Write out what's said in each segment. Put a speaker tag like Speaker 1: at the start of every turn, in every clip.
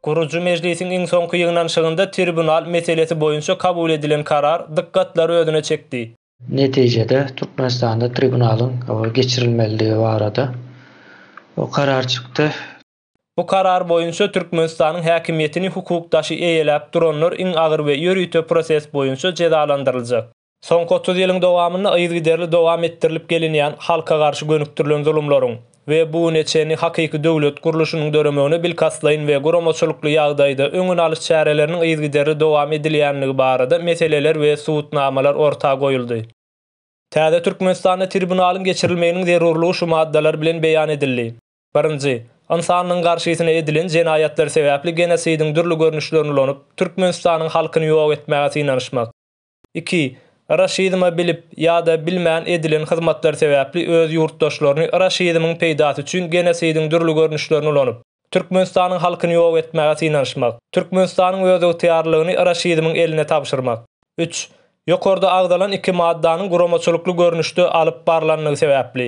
Speaker 1: Gurujy mejlisiň iň soňky ýygnanyşygynda tribunal meselesi boýunça kabul edilen karar dykgatlary özüne çekdi. Netijede,
Speaker 2: Türkmenistanda tribunalyň geçirilmelidigi barada karar çykdy. Bu karar
Speaker 1: boýunça Türkmenistanyň häkimiýetini hukuk daşy eýeläp duranlar iň agyr we ýörite proses boýunça jezalandyryljak. Soňky otuz ýylyň dowamynda yzygiderli dowam etdirilip gelinýän halka garşy gönükdirilen zulumlaryň we bu güne çenli hakyky döwlet gurluşynyň döremegine bilkastlaýyn we guramaçylykly ýagdaýda öňüni alyş çäreleriniň yzygiderli dowam edilýänligi barada meseleler we subutnamalar orta goýuldy. Täze Türkmenistanda tribunalyň geçirilmeginiň zerurlygy şu maddalar bilen beýan edildi. Birinji, ynsanlygyň garşysyna edilen jenaýatlar sebäpli genosidiň dürli görnüşlerini ulanyp, Türkmenistanyň halkyny ýok etmäge synanyşmak. Iki, Raşizme bilip ýa-da bilmän edilen hyzmatlar sebäpli öz ýurtdaşlaryny raşizmiň peýdasy üçin genosidiň dürli görnüşlerini ulanyp, Türkmenistanyň halkyny ýok etmäge synanyşmak. Türkmenistanyň özygtyýarlylygyny raşizmiň eline tabşyrmak. Üç, Ýokarda agzalan iki maddanyň guramaçylykly görnüşde alyp barlanlygy sebäpli,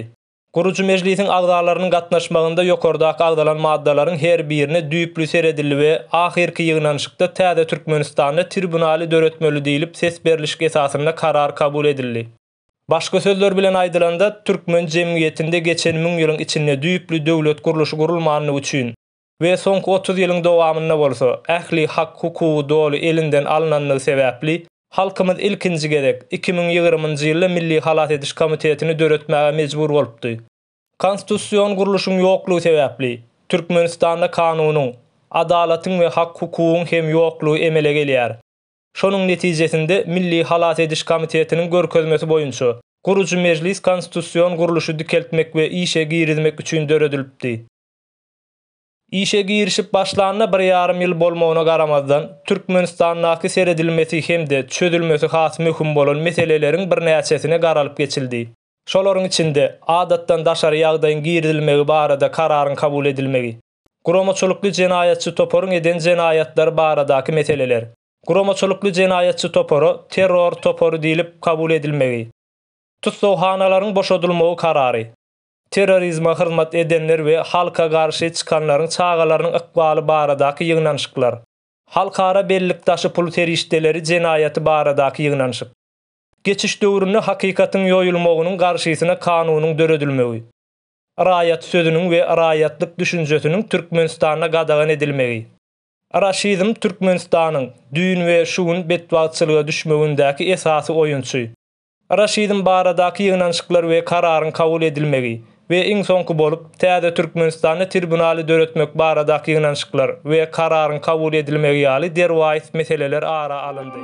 Speaker 1: Gurujy mejlisiň agzalarynyň gatnaşmagynda ýokardaky agzalan maddalaryň her birine düýpli seredildi we ahyrky ýygnanyşykda täze Türkmenistanda tribunaly döretmeli diýlip ses berlişik esasynda karar kabul edildi. Başga sözler bilen aýdylanda, türkmen jemgyýetinde geçen müň ýylyň içinde düýpli döwlet gurluşy gurulmandygy üçin, we soňky otuz ýylyň dowamynda bolsa ähli hak-hukugy doly elinden alnandygy sebäpli, halkymyz ilkinji gezek iki müň ýigrimi ýylda Milli halas ediş komitetini döretmäge mejbur bolupdy. Konstitusion gurluşyň ýoklugy sebäpli, Türkmenistanda kanunyň, adalatyň we hak-hukugyň hem ýoklugy emele gelýär. Şonuň netijesinde Milli halas ediş komitetiniň görkezmesi boýunça, gurujy mejlis konstitusion gurluşy dikeltmek we işe girizmek üçin döredilipdi. Işe girişip başlanyna bir ýarym ýyl bolmagyna garamazdan, Türkmenistandaky seredilmesi hem-de çözülmesi has möhüm bolan meseleleriň birnäçesine garalyp geçildi. Şolaryň içinde, adatdan daşary ýagdaýyň girizilmegi barada kararyň kabul edilmegi, guramaçylykly jenaýatçy toparyň eden jenaýatlary baradaky meseleler, guramaçylykly jenaýatçy topara terror topary diýlip kabul edilmegi, tussaghanalaryň boşadylmagy karary, Terrorizme hyzmat edenler we halka garşy çykanlaryň çagalarynyň ykbaly baradaky ýygnanyşyklar. Halkara bellik daşy pul serişdeleri jenaýaty baradaky ýygnanyşyk. Geçiş döwründe hakykatyň ýoýulmagynyň garşysyna kanunyň döredilmegi. Raýat sözüniň we raýatlyk düşünjesiniň Türkmenistanda gadagan edilmegi. Raşizm Türkmenistanyň, düýn we şu gün betbagtçylyga düşmegindäki esasy oýunçy. Raşidiň baradaky ýygnanyşyklar we kararyň kabul edilmegi we iň soňky bolup, täze Türkmenistanda tribunaly döretmek baradaky ýygnanyşyklar we kararyň kabul edilmegi ýaly derwaýys meseleler ara alyndy.